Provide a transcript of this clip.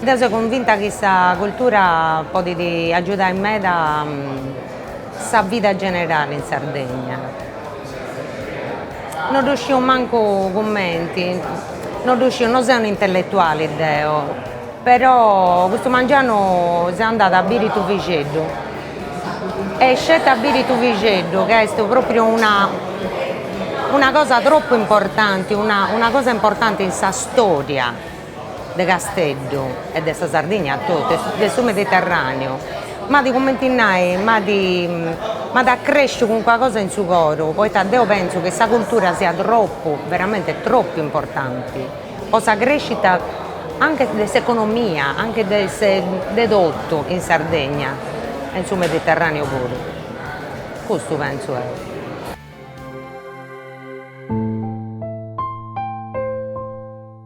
Deu seu convinta chi sa cultura podit agiudai meda sa vida generali in Sardegna, non ddu sciu mancu cumenti, non ddu sciu, no seu un'intelletuali deo, però custu mangianu seu andada a biri Tuvixeddu e sceti a biri Tuvixeddu chi est propriu una una cosa troppu importanti, una cosa importanti in sa storia de Casteddu e de sa Sardigna totu e de su Mediterraneu m'at cumenti nai m'at m'at accresciu calincuna cosa in su coro poita deo pentzu chi sa cultura siat tropu veramente tropu importanti po sa crescita anche de s'economia anche de se de totu in Sardegna e in su Mediterraneu puru custu pentzu deu